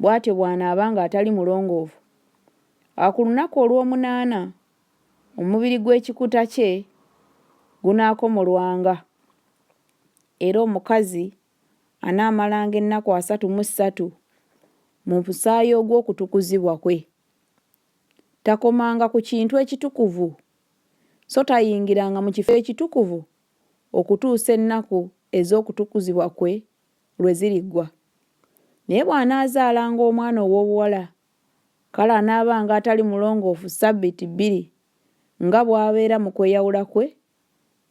bw'atyo bw'anaaba nga atali mulongoofu, awo ku lunaku olwomunaana omubiri gw'ekikuta kye gunaakomolwanga, era omukazi anaamalanga ennaku asatu mu ssatu mu musaayi ogw'okutukuzibwa kwe. Takomanga ku kintu ekitukuvu, so tayingiranga mu kifo ekitukuvu okutuusa ennaku ez'okutukuzibwa kwe lwe ziriggwa. Naye bw'anaazaalanga omwana ow'obuwala, kale anaabanga atali mulongoofu ssabbiiti bbiri nga bw'abeera mu kweyawula kwe,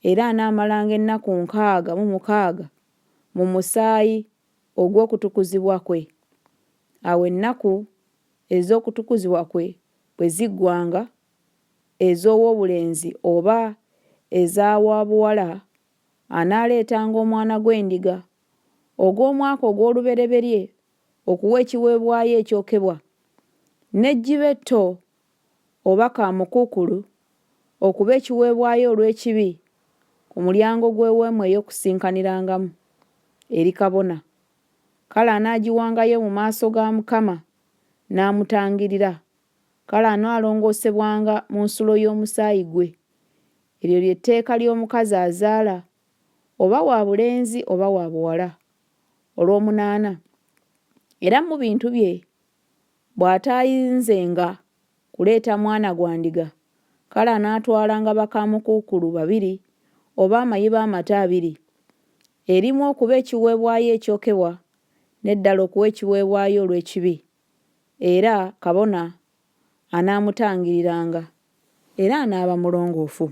era anaamalanga ennaku nkaaga mu mukaaga mu musaayi ogw'okutukuzibwa kwe. Awo ennaku ez'okutukuzibwa kwe bwe ziggwanga, ez'ow'obulenzi oba eza wa buwala anaaleetanga omwana gw'endiga ogw'omwaka ogw'olubereberye okuwa ekiweebwayo ekyokebwa, n'ejjiba etto oba kaamukuukulu okuba ekiweebwayo olw'ekibi ku mulyango gw'Eweema ey'Okukuŋŋaanirangamu, eri kabona. Kale anaagiwangayo mu maaso ga Mukama n'amutangirira, kale anaalongoosebwanga mu nsulo y'omusaayi gwe, Eryo lye tteeka ly'omukazi azaala, oba wa bulenzi oba wa buwala, olw'omunaana, era mu bintu bye bw'ataayinzenga kuleeta mwana gwa ndiga, kale anaatwalanga bakaamukuukulu babiri oba amayiba amato abiri, erimu okuba ekiweebwayo ekyokebwa, n'eddala okuwa ekiweebwayo olw'ekibi. era kabona anaamutangiriranga, era anaaba mulongoofu.